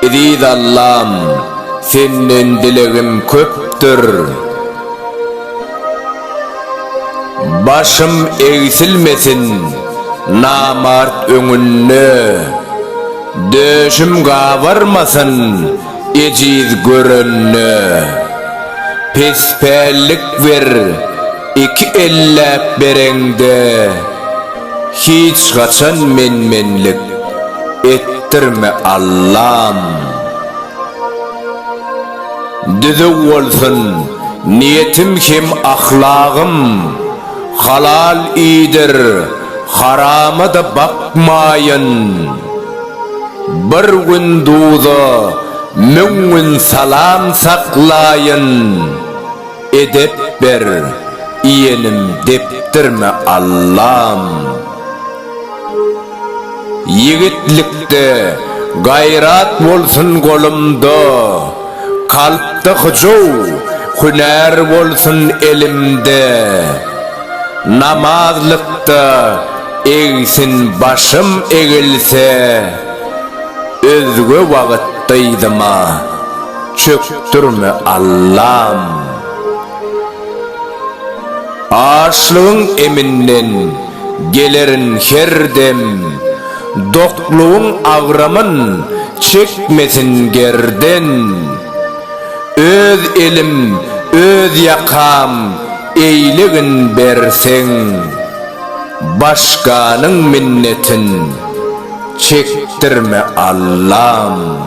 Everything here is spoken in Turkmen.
Eziz Allam, Senden dilegim köpdür. Başym egsilmesin namart öňünde, döşüm gabarmasyn Ejiz görende, pespällik ber, Iki elläp bereňde, Hiç haçan men-menlik etdirme, Allam. Düzüw bolsun niýetim hem ahlagym, Halal iýdir, harama-da bakmaýyn. Bir gün duza, müň gün salam saklaýyn, Edep ber, iýenim depdirme Allam. Ýigitlikde gaýrat bolsun golumda, Kalpda hyjuw, hünär bolsun elimde. Namazlykda egsin başym egilse, Özge wagyt dyzyma çökdürme Allam. Açlygyň eminden gelerin her dem, Doklugyň agramyn çekmesin gerden. Öz elim, öz ýakam Eýlegin berseň, başganyň minnetin çekdirme Allam.